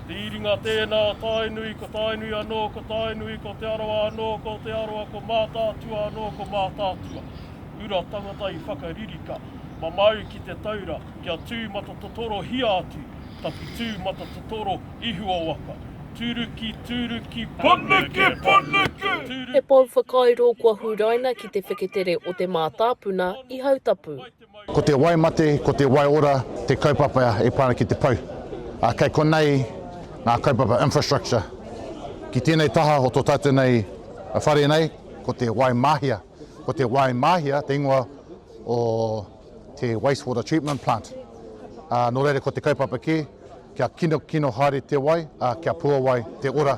Te Iringa tēnā o Tainui, ko Tainui anō, ko Tainui, ko Te Arawa anō, ko Te Arawa, ko Mātaatua anō, ko Mātaatua. Ura tangata i whakaririka, mamau ki te taura, kia tū matatotorohia atu, tapu tū matatotoro ihuo waka. Turuki, turuki, punuku, punuku, turuki, He pou whakairo kua huraina ki te wheketere o te mātāpuna i Hautapu. Ko te wai mate, ko te wai ora te kaupapa e pā ana ki te pou. Ā, kei konei ngā kaupapa infrastructure. Ki tēnei taha o tō tātou nei whare nei, ko te wai māhia. Ko te wai māhia te ingoa o te wastewater treatment plant. Ā, nō reira ko te kaupapa kē, kia kinokino haere te wai, ā, kia puawai te ora.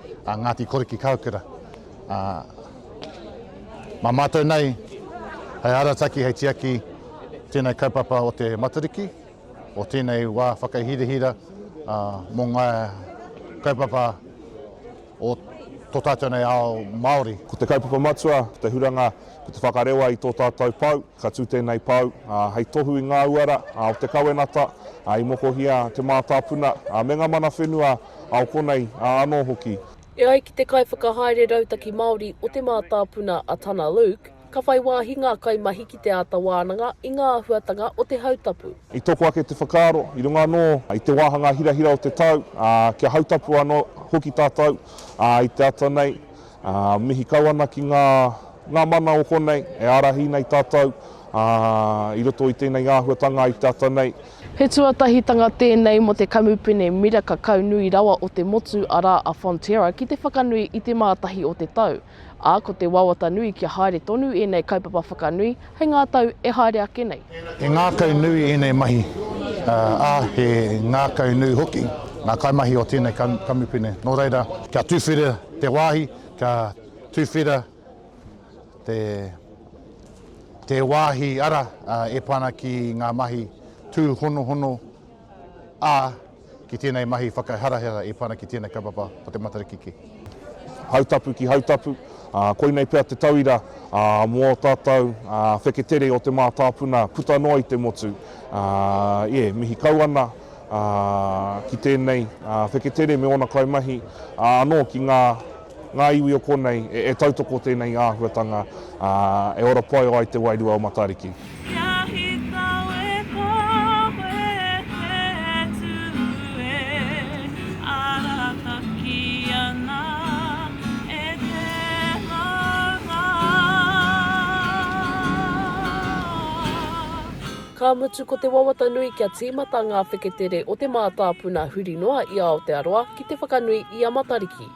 a Ngāti Korikikāukera. Ā, mā mātou nei hei arataki, hei tiaki tēnei kaupapa o te Matariki, o tēnei wā whakahirahira ā, mō ngā kaupapa o tō tātou nei ao Māori. Ko te kaupapa matua, ko te huranga, ko te whakarewa i tō tātou pau, ka tū tēnei pau ā, hei tohu i ngā uara ā, o te kawenata ā, i mokohia te mātāpuna ā, me ngā mana whenua. ao konei, ā, anō hoki. E ai ki te Kaiwhakahaere Rautaki Māori o Te Mātāpuna a Tana Luke, ka whai wāhi ngā kaimahi ki te āta wānanga i ngā āhuatanga o te hautapu. I toko ake te whakaaro, i runga anō i te wāhanga hirahira o te tau, ā, kia hautapu anō hoki tātou, ā, i te ata nei, Ā, mihi kau ana ki ngā, ngā mana o konei, e ārahi nei tātou, ā, i roto i tēnei āhuatanga i te ata nei. He tuatahitanga tēnei mō te kamupene miraka kau nui rawa o te motu, arā, a Fonterra, ki te whakanui i te Mātahi o te Tau. Ā, ko te wawata nui kia haere tonu ēnei kaupapa whakanui, Hei ngā tau e haere ake nei. He ngākau nui ēnei mahi, ā, he ngākau nui hoki ngā kaimahi o tēnei kamupene. Nō reira, kia tuwhera te wāhi, kia tuwhera te wāhi ara e pā ana ki ngā mahi tūhonohono, ā, ki tēnei mahi whakaharahara i pana ki tēnei kaupapa o te Matariki ki. Hautapu ki Hautapu, ā, koinei pea te tauira, ā, mō ō tātou, ā, wheketere o te mātāpuna puta noa i te motu, ā, ē, mihi kau ana, ā, ki tēnei, ā, wheketere me ōna kaimahi, ā, anō ki ngā. Ngā iwi o konei, e tautoko tēnei āhuatanga, ā, e ora pai ai te wairua o Matariki. Kia hika we kawe he tū e arataki ana e te maunga. Ka mutu ko te wawata nui kia tīmata ngā wheketere o te mātāpuna huri noa i Aotearoa ki te whakanui i a Matariki.